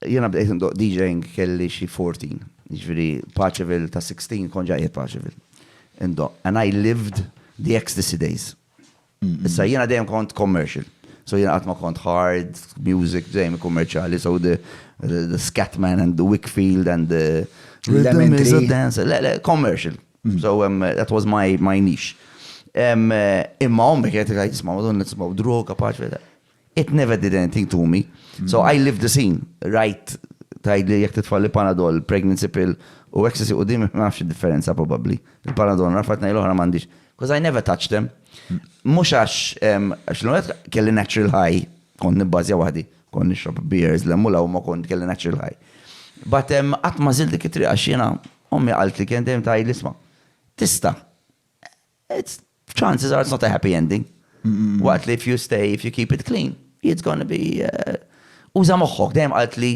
Jiena bdejt indoqq DJing kelli xi fourteen, jiġifieri Paceville ta' sixteen kont ġa qiegħed Paceville. Indoqq and I lived the ecstasy days. Issa jiena dejjem kont commercial. So jiena qatt ma kont hard music, dejjem kummerċjali, so the the Scatman and the Wickfield and the Lemon Tree Dance, le le commercial. So that was my my niche. Imma ommi kienet tgħid isma' madonna tisimgħu droga Paceville. It never did anything to me. So I lived the scene. Rajt tajd li jek titfall li panadol, pregnancy pill u ecstasy u dim ma nafx differenza probably. Il-panadol rafat nej l-oħra mandiġ. Because I never touched them. Mux għax, għax l-għet kelli natural high, kont nibbazja wahdi, kont nixrob beers, l-emmu law ma kont kelli natural high. But għat ma zil dik it-triqa xina, ommi għalt li kien dem tajd l-isma. Tista, it's chances are it's not a happy ending. Waqt li if you stay, if you keep it clean, it's gonna be uh, uża moħħok, dejjem qalt li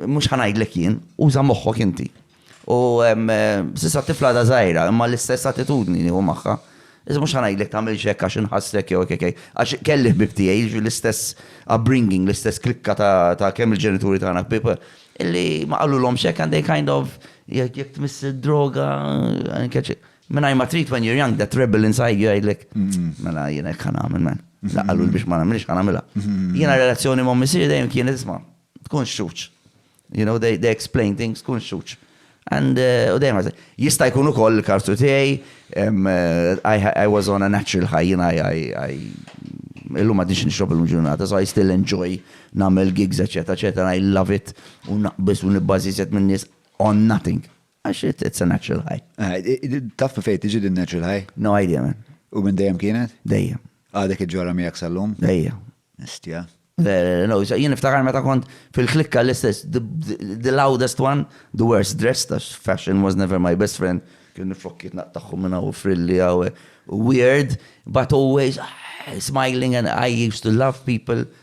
mhux ħanajdlek jien, uża moħħok inti. U um, uh, sissa tifla da żgħira, imma l-istess attitudni nieħu magħha. Iżda mhux ħanajdlek tagħmel xekk għax inħassek jew kekej. Għax kelli ħbib tiegħi jiġu l-istess upbringing, l-istess klikka ta' kemm il-ġenituri tagħna ħbib illi ma qalulhom xekk and they kind of jekk tmiss droga, Mingħajr ma trid when you're young, that rebel inside you jgħidlek, mela jiena hekk ħanagħmel man. La qalu biex ma nagħmilx ħanagħmilha. Jiena relazzjoni ma' missier dejjem kien isma' tkun xuċ. You know, they, they explain things, tkun xuċ. And uh, u dejjem jista' jkun ukoll il-kartu tiegħi um, uh, I, I was on a natural high, jiena I, I, I illum għadix nixrob illum ġurnata, so I still enjoy namel gigs, eccetera, eccetera, I love it, u naqbis u nibbażi set minn nies on nothing. Għax it's a natural high. Ah, taf fejn tiġi din natural high? No idea man. U minn dejjem kienet? Dejjem. Għadek iġġorha miegħek sal-lum? Dejjem. Istja. No, jien iftakar meta kont fil-klikka l-istess, the loudest one, the worst dressed, as fashion was never my best friend. Kien nifokkiet naqtaħħum minna u frilli għaw, weird, but always ah, smiling and I used to love people.